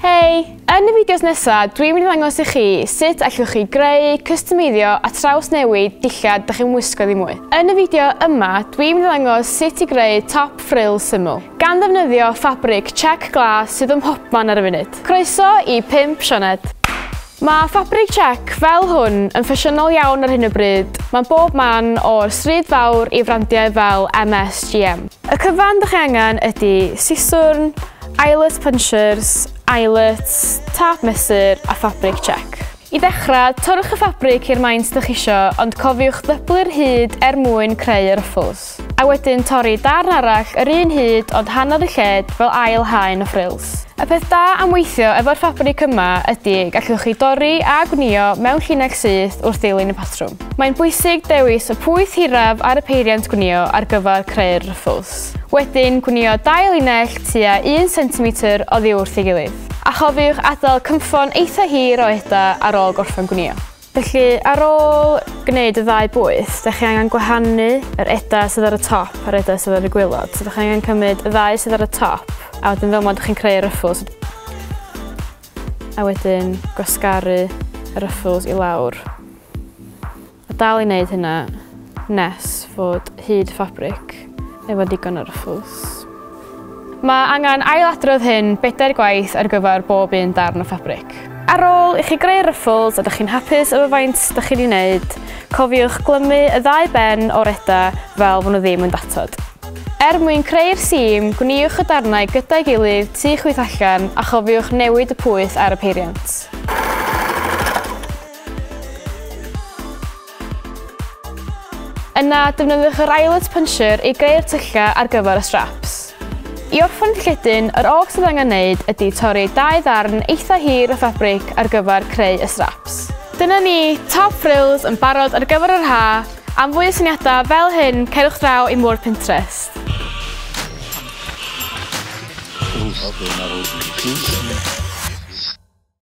Hei! Yn y fideos nesaf, dwi'n mynd i ddangos i chi sut allwch chi greu, customeiddio a traws newid dillad dych chi'n wisgo ddim mwy. Yn y fideo yma, dwi'n mynd i ddangos sut i greu top frill syml, gan ddefnyddio ffabrig check glas sydd ym mhobman ar y funud. Croeso i 5 Sioned! Mae ffabrig Czech fel hwn yn ffasiynol iawn ar hyn o bryd, mae'n bob man o'r stryd fawr i frandiau fel MSGM. Y cyfan dych chi angen ydy siswrn, eyelet punchers, eyelets, tâp mesur a ffabrig Czech. I ddechrau, torrwch y ffabrig i'r maint dych chi eisiau ond cofiwch ddyblu'r hyd er mwyn creu y ruffles. ffrwls. A wedyn torri darn arall yr un hyd ond hanodd y lled fel ail haen o ffrwls. Y peth da am weithio efo'r ffabrig yma ydy y gallwch chi dorri a gwnïo mewn llinell syth wrth ddilyn y patrwm. Mae'n bwysig dewis y pwyth hiraf ar y peiriant gwnïo ar gyfer creu'r rwffls. Wedyn gwnïo dau linell tua un centimetr oddi wrth ei gilydd. A chofiwch adael cynffon eitha hir o eda ar ôl gorffen gwnïo. Felly, ar ôl gwneud y ddau bwyth, da chi angen gwahanu yr edau sydd ar y top a'r edau sydd ar y gwylod. So da chi angen cymryd y ddau sydd ar y top, a wedyn fel mod chi'n creu ruffles. A wedyn gwasgaru y ruffles i lawr. A dal i wneud hynna nes fod hyd ffabric. efo digon o ryffls. Mae angen ailadrodd hyn bedair gwaith ar gyfer bob un darn o ffabric. Ar ôl i chi greu ryffls a dych chi'n hapus efo faint dych chi'n ei wneud, cofiwch glymu y ddau ben o'r eda fel fod nhw ddim yn datod. Er mwyn creu'r sîm, gwniwch y darnau gyda'i gilydd tu chwith allan a chofiwch newid y pwyth ar y peiriant. Yna, defnyddiwch yr eyelet puncher i greu'r tyllau ar gyfer y straps. I orffen lledyn, yr oll sydd angen wneud ydy torri dau ddarn eitha hir o ffabric ar gyfer creu y straps. Dyna ni, top frills yn barod ar gyfer yr ha'! Am fwy o syniadau fel hyn, cerwch draw i'm ward Pinterest.